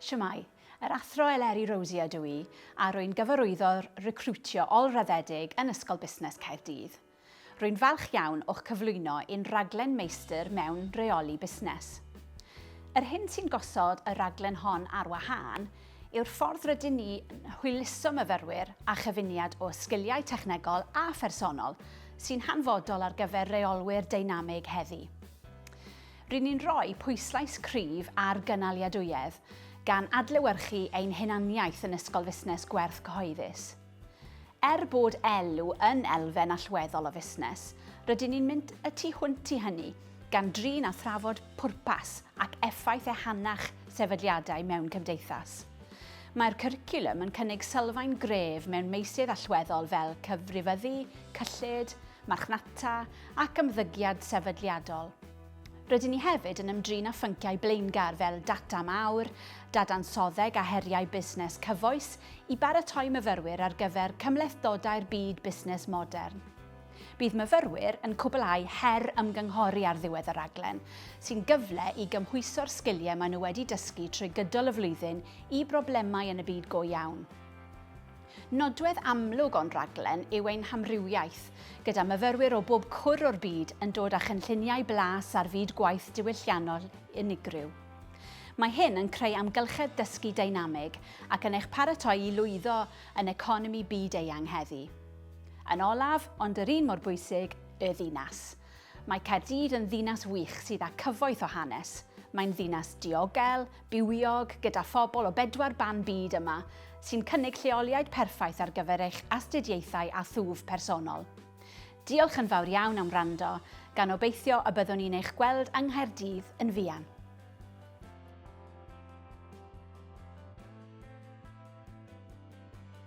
Shwmae. Yr Athro Eleri Rosier ydw i, a rwy'n gyfarwyddo recriwtio ol-raddedig yn Ysgol Busnes Caerdydd. Rwy'n falch iawn o'ch cyflwyno i'n rhaglen Meistr mewn Rheoli Busnes. Yr hyn sy'n gosod y rhaglen hon ar wahân yw'r ffordd rydyn ni yn hwyluso myfyrwyr â chyfuniad o sgiliau technegol a phersonol sy'n hanfodol ar gyfer rheolwyr deinamig heddi. Ry'n ni'n rhoi pwyslais cryf ar gynaliadwyedd, gan adlewyrchu ein hunaniaeth yn Ysgol Fusnes Gwerth Cyhoeddus. Er bod elw yn elfen allweddol o fusnes, rydyn ni'n mynd y tu hwnt i hynny, gan drin a thrafod pwrpas ac effaith ehangach sefydliadau mewn cymdeithas. Mae'r cwricwlwm yn cynnig sylfaen gref mewn meysydd allweddol fel cyfrifyddu, cyllid, marchnata, ac ymddygiad sefydliadol. Rydyn ni hefyd yn ymdrin â phynciau blaengar fel data mawr, dadansoddeg a heriau busnes cyfoes i baratoi myfyrwyr ar gyfer cymhlethdodau'r byd busnes modern. Bydd myfyrwyr yn cwblhau her ymgynghori ar ddiwedd y rhaglen, sy'n gyfle i gymhwyso'r sgiliau maen nhw wedi dysgu trwy gydol y flwyddyn i broblemau yn y byd go iawn. Nodwedd amlwg o'n rhaglen yw ein hamrywiaeth, gyda myfyrwyr o bob cwr o'r byd yn dod â chynlluniau blas ar fyd gwaith diwylliannol unigryw. Mae hyn yn creu amgylchedd dysgu deinamig ac yn eich paratoi i lwyddo yn economi byd eang heddi. Yn olaf, ond yr un mor bwysig, y ddinas. Mae Caerdydd yn ddinas wych sydd â cyfoeth o hanes. Mae'n ddinas diogel, bywiog, gyda phobl o bedwar ban byd yma, sy'n cynnig lleoliad perffaith ar gyfer eich astudiaethau a thwf personol. Diolch yn fawr iawn am wrando, gan obeithio y byddwn ni'n eich gweld yng Nghaerdydd yn fuan.